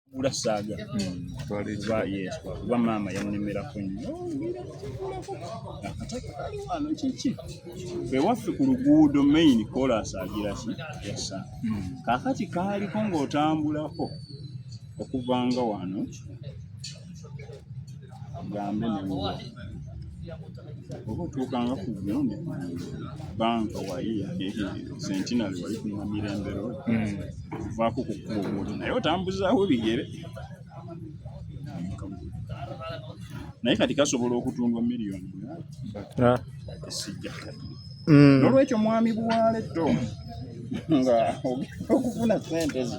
kugula saaga kuba maama yannemerako nnyo akataano kiki ewaffe ku luguudo main kolas agiraki yasa kakati kaaliko ng'otambulako okuva nga wano gambe newoba otuukanga ku bino ne banka wali sentinali wali kunyuma mirembero kuvaako ku kkuba omuntu naye otambuzaawo bigere naye kati kasobola okutundwa miliyoni sijja mm. nolwekyo mwami buwaale to nga okufuna sente zo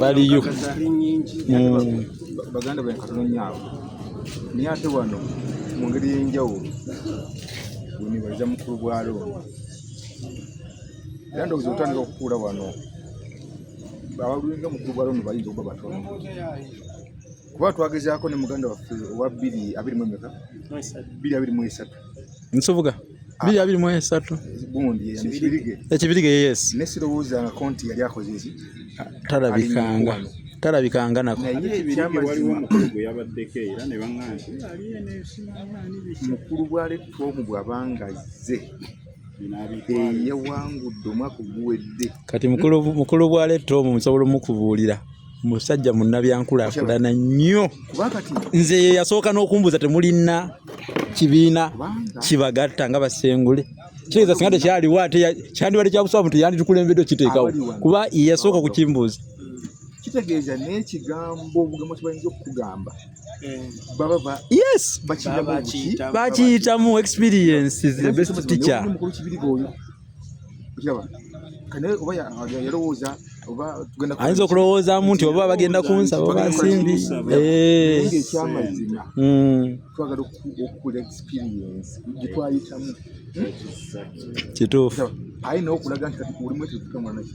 baliyo mm. baganda bwe katononyaabo naye ate wano mu ngeri y'enjawulo wenibaza mukulu bwa looni era ndowooza otandika okukuula wano abalulinga mukulu bwa looni bayinza okuba batono kuba twagezaako ne muganda waffe owa bbiri abiri mu emeka bbiri abiri mu esatu nsubuga bbiri abiri mu esatu gundi ekibirige yes naye sirowoozangako nti yali akoze eki talabikanga talabikanga nako mukulu bwalettwa omu bwabanga azze eyawangudde omwaka oguwedde kati mukulu bwalettwa omu nsobola omukubuulira musajja munnabyankulaakulana nnyo nze ye yasooka n'okumbuuza temulina kibiina kibagatta nga basengule kitegeeza singa tekyaliwo ate kyandibadde kyabusawa muntu yanditukulembedde okiteekawo kuba yasooka okukimbuuza kitegeeza n'ekigambo obugambo kibayinza okukugamba eh. baba yes bakiyitamu experience is the best teacher ayinza okulowoozamu nti oba bagenda kunsaba oba nsimbi ekyamazima hmm. twagala okukula experience gyetwayitamu kituufu ayina okulaga nti kati kulimu ekyo tukamwanaki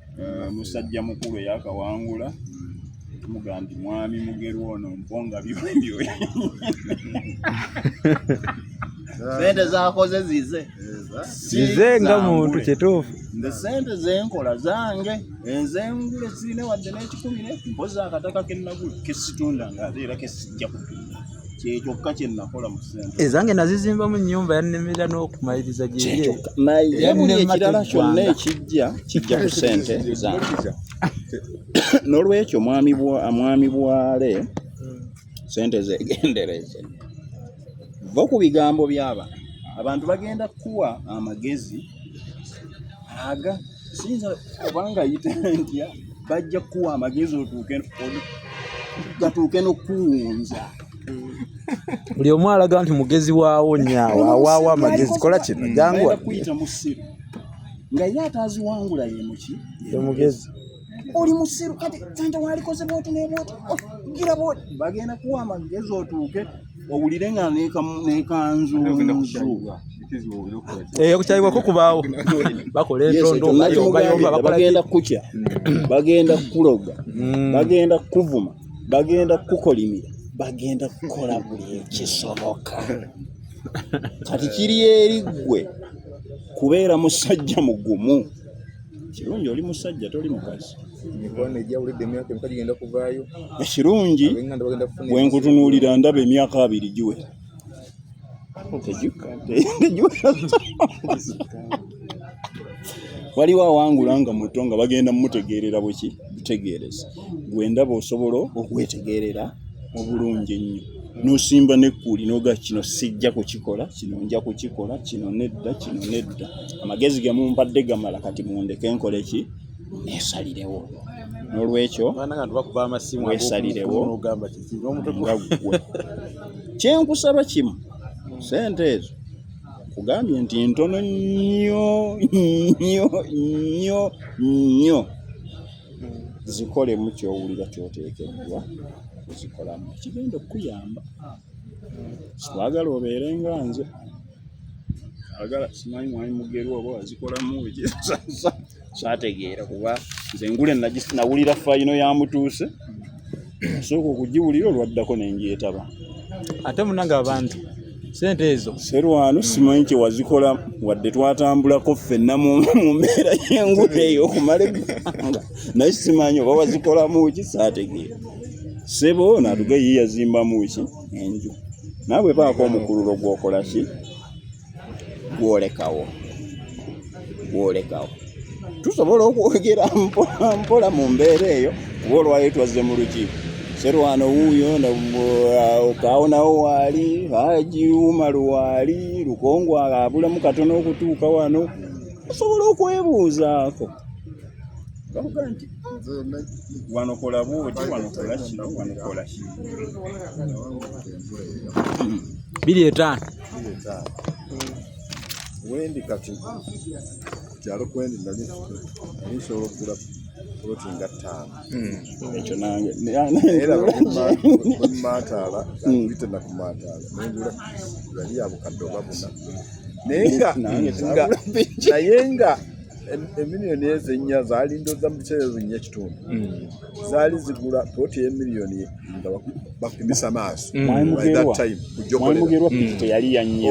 eh, musajja mukulu eyakawangula tumuga nti mwami mugeru ono mponga byobyo sente zakoze zize zize nga muntu kituufu nze sente zenkola zange enzengule sirina wadde n'ekikumi ne mpozi akataka kenagula kesitunda nga ate era kesijja kutunda kyekyokka kyenakola mu ssente ezange nazizimbamu nnyumba yannemera n'okumaliriza gyeye naye buli ekirala kyonna ekijja kijja ku ssente zange n'olwekyo mwami bwale ssente zegendereze va ku bigambo by'abantu abantu bagenda kukuwa amagezi aga siyinza obanga yita ntya bajja kukuwa amagezi otuuke gatuuke n'okukuwunza buli omu alaga nti mugezi waawo nyaawo awaawo amagezi kola kino janguwa kuyita mu ssiru nga ye ataaziwangula ye muki ye mugezi oli musiru kati tanta walikoze bwoti nebwoti oh, gira bwoti bagenda kuwa amagezi otuuke owulire nga nekanzu eh, okukyayibwa kukubaawo bakola entondobayombayombaagenda kukya bagenda kukuloga hmm. bagenda kukuvuma bagenda kukukolimira bagenda kukola buli ekisoboka kati kiri eri ggwe kubeera musajja mugumu kirungi oli musajja toli mukazi emikwano egyawulidde emyaka emeka gigenda kuvaayo ekirungi bwe nkutunuulira ndaba emyaka abiri giwe waliwo awangula nga muto nga bagenda mumutegeerera bweki butegeereza gwe ndaba osobola okwetegeerera obulungi ennyo n'osimba n'ekkuuli n'oga kino sijja kukikola kino nja kukikola kino nedda kino nedda amagezi ge mumpadde gamala kati mundeke nkole ki neesalirewo n'olwekyo weesalirewo nga ggwe kyenkusaba kimu sente ezo kugambye nti ntono nnyo nnyo nnyo nnyo zikolemu kyowulira kyoteekeddwa okuzikolamu kigenda okukuyamba sikwagala obeere nga nze agala simanyi mwami mugerwa oba wazikolamu kyategeera kuba nze ngule nawulira fayino ya mutuuse sooka okugiwulira olwaddako ne ngyetaba ate munange abantu sente ezo serwano simanyi kye wazikola wadde twatambulako ffenna mu mbeera y'enguudo eyo okumala eggwanga naye simanyi oba wazikolamu ki saategeera sebo natuge ye yazimbamu ki enju naawe baako omukululo gwokola ki gwolekawo gwolekawo tusobola okwogera mpola mpola mu mbeera eyo kuba olwayo twazze mu lukiiko serwano wuuyo uh, okaawonawo waali haji umaru waali lukongo abulamu katono okutuuka wano osobola okwebuuzaako bakuga nti wanokola bwoti wanokola kino wanokola kino biri etaano ile taa wendi kati kyalo kwendi nali nali nsobola okugula poloti nga ttaano hmm. ekyo nange era bakumaataala bite hmm. nakumaataala nengula yali yabukadde oba buna naye nga naye nga emiliyoni ezo ennya zaali ndoza mu kiseera ezo nnya kitundu hmm. zaali zigula ploti ye miliyoni nga bapimisa maaso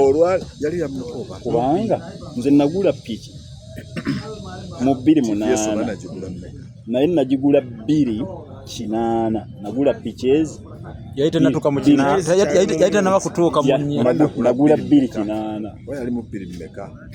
olwa yali yamukoba kubanga nze nagula piki mu bbiri munaana naye nagigula bbiri kinaana nagula piki ezi yali tenatuka mu kinaana yali tenaba kutuuka mu nagula bbiri kinaana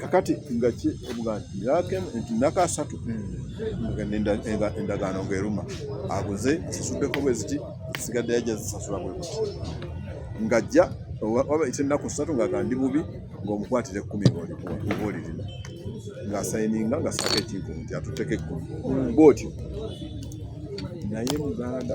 kakati nga ki omuganda yakemu nti nakasatu endagaano ngaeruma aguze zisuddeko bweziti sigadde yajja zisasula bwekuti ngajja waba ite ennaku ssatu ngaga ndi bubi ngaomukwatira ekkumi ngaolirina ngaasayininga nga saako ekintu nti atuteka ekkumi bwotyo naye muganda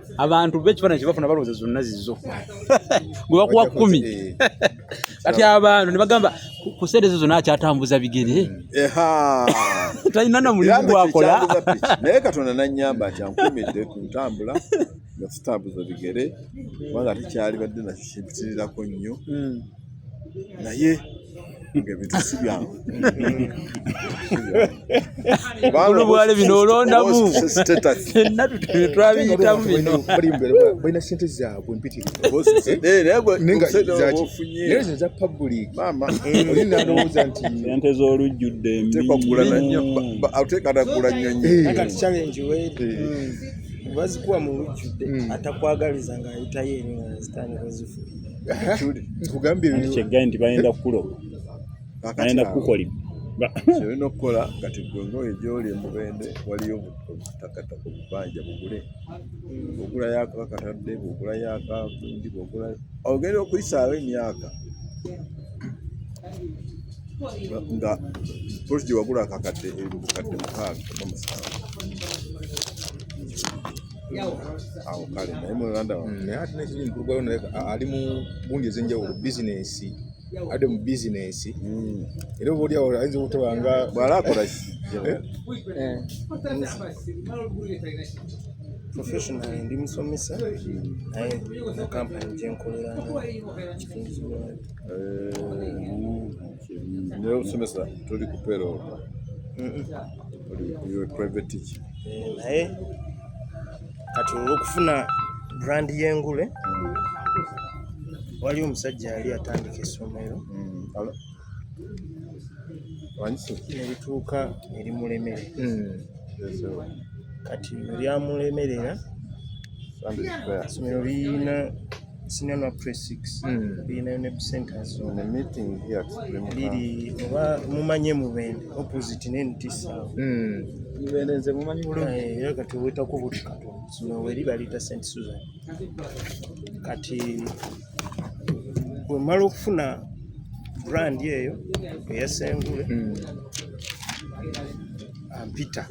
abantu bekifaananyi kyebafuna balowooza zonna zizo gwe bakuwa kumi eh. kati abantu ne bagamba ku sente ezo zonna akyatambuza bigere talina na mulimu gwakola naye katonda nannyamba nti ankumidde ku ntambula nga tutambuza bigere kubanga tekyali badde nakyo kimpitirirako nnyo hmm. naye olubwale bino olondamu fenna twabiyitamu binobalina sente zaabwe mpitiriza public oli nalowooza nti sente z'olujjudde mbiatekatagula nyonyi bazikuwa mu lujjudde atakwagaliza ng'ayitayo eri nga zitandika zifuuka nkugambye kyeggaye nti bagenda kukuloba bagenda kukukolima kyolina okukola kati gwe ngaoyo gyoli emubende waliyo obutakataka obubanja bugule bwogula yako akatadde bwogula yako akundi bwogula ogenda okuyisaawo emyaka nga polisi gyewagula akakadde ebukadde mukaaga oba musanvu awo kale naye mulanda mm, naye ate nekiri mukulugayo naye ali mu gundi ezenjawulo bizinensi ade mu bizinensi mm. era oba oli awo ayinza obutaba nga bwala akola eh? eh. professional ndi musomesa naye na kampani gyenkolera nga kitunzi Ndio useme sasa tuli kupero. Mm. Iwe private teacher. Eh, naye kati olwokufuna brand y'engule mm. waliwo omusajja yali atandika essomero mm. nebituuka erimulemere kati eryamulemerera essomero liyina senior na press 6 mm. being in a centers on a meeting here at Supreme Lili oba mumanye mubende opposite ne ntisa mm. mubende nze mumanyi bulungi eh era kati weta ku buti kato no weli balita Saint Susan kati wemala okufuna brand eyo eyasengule mm. ampita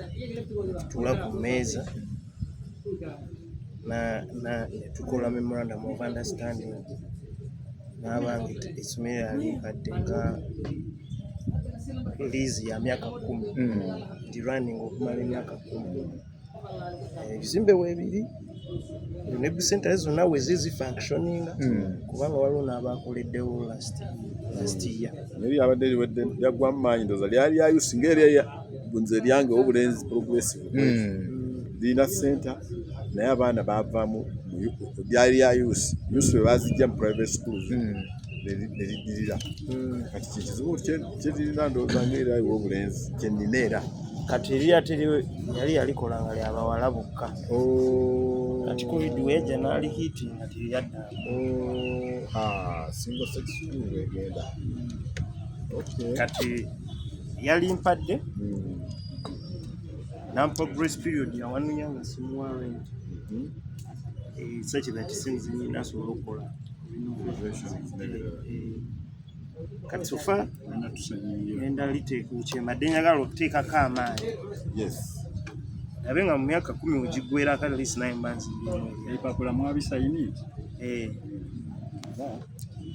tula ku meza na na tukola memorandum of understanding n'abange essomero yali kadde nga liizi ya myaka kumi hmm. ndi running okumala emyaka kumi eh, ebizimbe weebiri nebu sentare zonna wezi zifunctioninga hmm. kubanga waliwo n'abakoleddewo last year naye byabadde biwedde byaggwamu maanyi ndoza lyali lyayusi ngaerya nze lyange obulenzi progressive hmm. lirina senta naye abaana bavamu lyali lya yusi yusi bebazijja mu private schools hmm. neriddirira hmm. kati kyekizibu kyeririna ndowooza ngaera iwe obulenzi kyenina era kati eriya teri yali yalikola nga lyabawala bokka oh. kati covid weja naali hiti nga teryadda oh. ah, single sex school egenda kati yalimpadde nampa grace period yawanunya nga simuwa rent ekisakira kisinzi nyina asobola okukola kati sofa enda liteeka ukyembadde njagala okuteekako amaanyi abe nga mu myaka kumi wegigwera kale lisi naye mbanzi mpapula mwabisayini eh.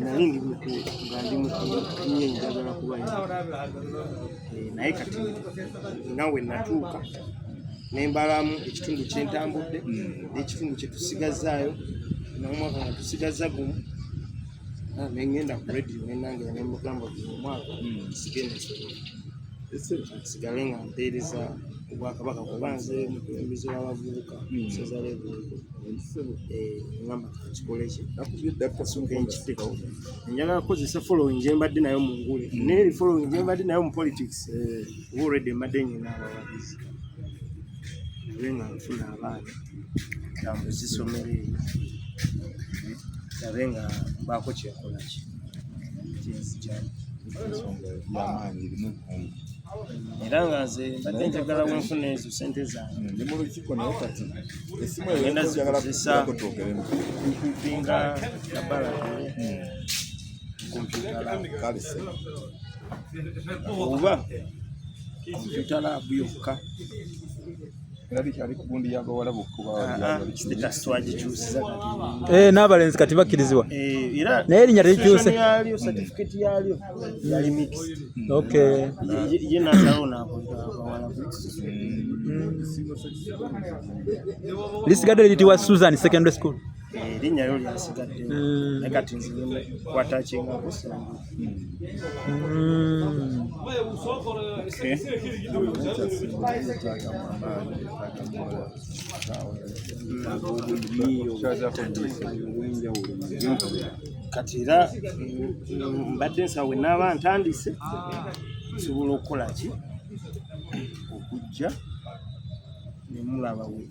nali ndi muto nga ndi muto nye njagala kuba eh, naye kati nawe natuuka nembalamu ekitundu kyentambudde hmm. nekitundu kyetusigazaayo nomwaka nga tusigaza gumu ah, nengenda ku radio nenange nemugamba omwaka hmm. sigenda nsigale nga mpeereza obwakabaka kuba nze mukulembeze w'abavubuka musaza hmm. lebuuko ngamba eh, kikoleki enkiteko njagala kukozesa following gye mbadde nayo mu ngule hmm. naye following gye mbadde nayo mu politics eh. already mbadde nyina abawagizi nabe nga nfuna abaana tambuza essomero eryo nabe nga mbaako kyekolaki kyenzijani ensonga yamaanyi erimu ebbugumu era nga nze mbadde njagala wenfuna ezo sente zange hmm, ndi mu lukiiko naye kati esimu egenda zikozesako twogeremu nkumpinga nabalagere hmm. nkumpingalaalese oba kompyuta laabu yokka Eh, n'abalenzi kati bakkirizibwa eh, naye erinnya terikyuse lisigadde liyitibwa Susan Secondary School erinnya lyo lyasigadde mm. naye kati nze kwatakinga kusangu kati era mbadde nsawo wenaaba ntandise nsobola okukola ki okujja nemulaba wee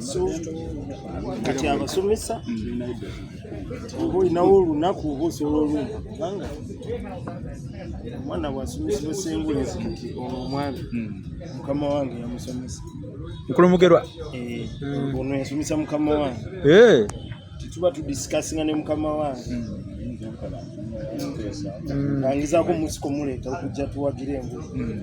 so kati abasomesa oba olinawo olunaku oba osobola olumba kubanga omwana bwasomesebwa sengulezi nti ono omwami hmm. mukama wange yamusomesa mukulu mugerwa eh, ono yasomesa mukama wange eh. tetuba tudisikasinga ne mukama wange hmm. angizaako omusiko muleeta okujja tuwagire enguzi hmm.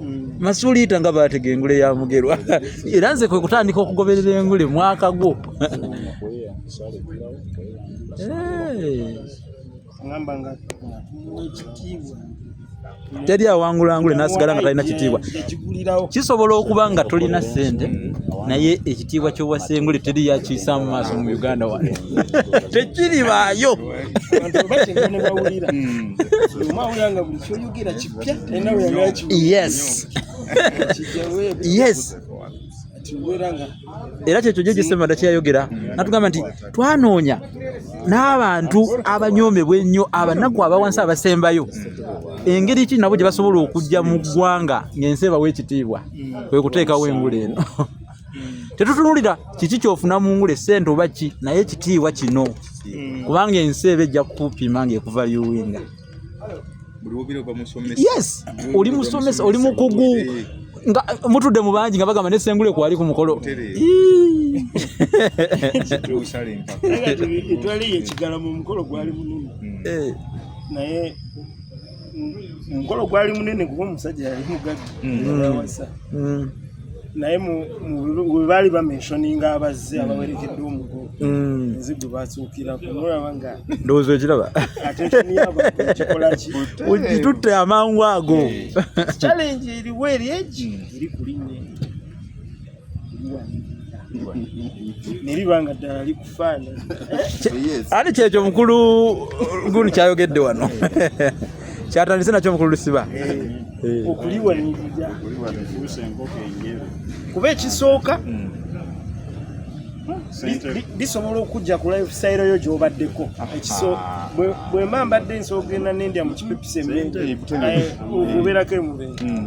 mm. masuliita nga batega engule ya mugerwa era nze kwe kutandika okugoberera engule mwaka gwo teri awangula ngule nasigala nga talina kitiibwa kisobola okuba nga tolina sente naye ekitiibwa kyowasengule teri yakiisa mu maaso mu uganda wano tekiribaayo Yes. Yes. era kyekyo gye gisema dakyeyayogera natugamba nti twanoonya n'abantu abanyoomebwa ennyo abanaku abawansi abasembayo engeri ki nabo gye basobola okujja mu ggwanga ng'ensi ebawa ekitiibwa kwe kuteekawo engula eno tetutunulira kiki kyofuna mu ngula esente oba ki naye ekitiibwa kino kubanga ensi eba ejja kukupima ng'ekuva yuwinga yes oli musomesa oli mukugu nga mutudde mu bangi nga bagamba nesengule kwali ku mukolo omukolo gwali munene kuba omusajja yali mugagga mm. Mm. naye we baali bamenshoninga abazze abawerekedde omugo mm. nze gwe basuukirako mulaba nga ndowooza okiraba kitutte amangu ago eh. challenge eriwo eri egi mm. eri kulinye neriba nga ddala liku ani kyekyo mukulu gulu kyayogedde wano kyatandise nakyo mukulu lusiba eh. okuliwanirira kuba ekisooka hmm. bisobola okujja ku lifestyle yo gyobaddeko ekiso bwemba mbadde nsoogenda nendya mu kipepisi embeera eh, okubeerako emubeera hmm.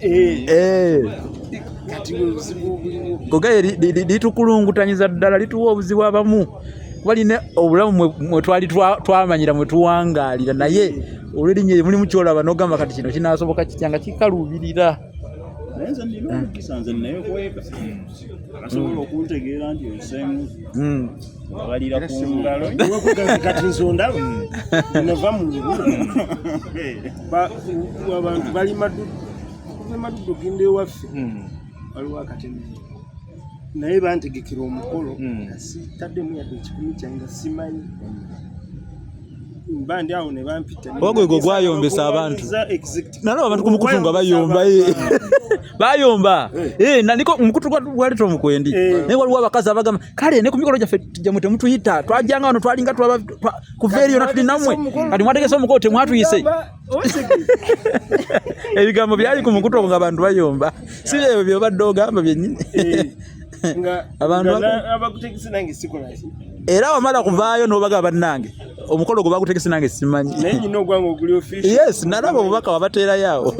Eh. kogaye litukulungutanyiza ddala lituwa obuzibu abamu walina obulamu mwetwali twamanyira mwetuwangalira naye olwerinnya eryo mulimu kyolaba nogamba kati kino kinasoboka kitya nga kikaluubirira wabalira ku ngalo kati nsonda nova mu lubula abantu bali maduddu okuva emaduddu ogenda ewaffe hmm. waliwo akatemere naye bantegekera omukolo hmm. nga sitaddemu yadde ekikumi kyange nga simanyi bandi awo ne bampita ogwo gwo gwayombesa abantu nalaba abantu ku mukutu nga bayomba eh. bayomba eh. eh, nandiko omukutu gwali tomukwendi naye waliwo abakazi abagamba kale ne ku mikolo gyaffe gyamwe temutuyita twajanga wano twalinga kuva eriyo natuli namwe kati mwategese omukolo temwatuyise ebigambo byali ku mukutu nga abantu bayomba si byebyo byobadde ogamba byenyini eh, era wamala kuvaayo nobaga bannange omukolo gwe bagutegese nange simanyi yes nalaba obubaka wabateerayoawo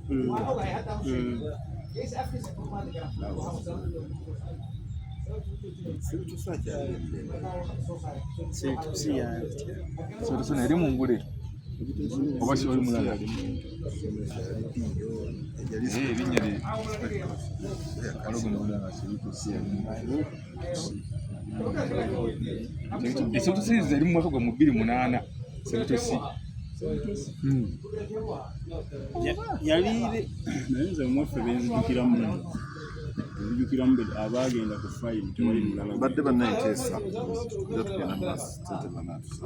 mm. mm. eri mungule oba si oli mulala esotosi zeri mu mwaka gwa mu bbiri munaana setosi hmm. yali naye nze omwaffe benzijukiramu ebijukiramu abaagenda ku fayiro tewali mulala badde bannanteesa era tugenda mu maaso tetebanaatusa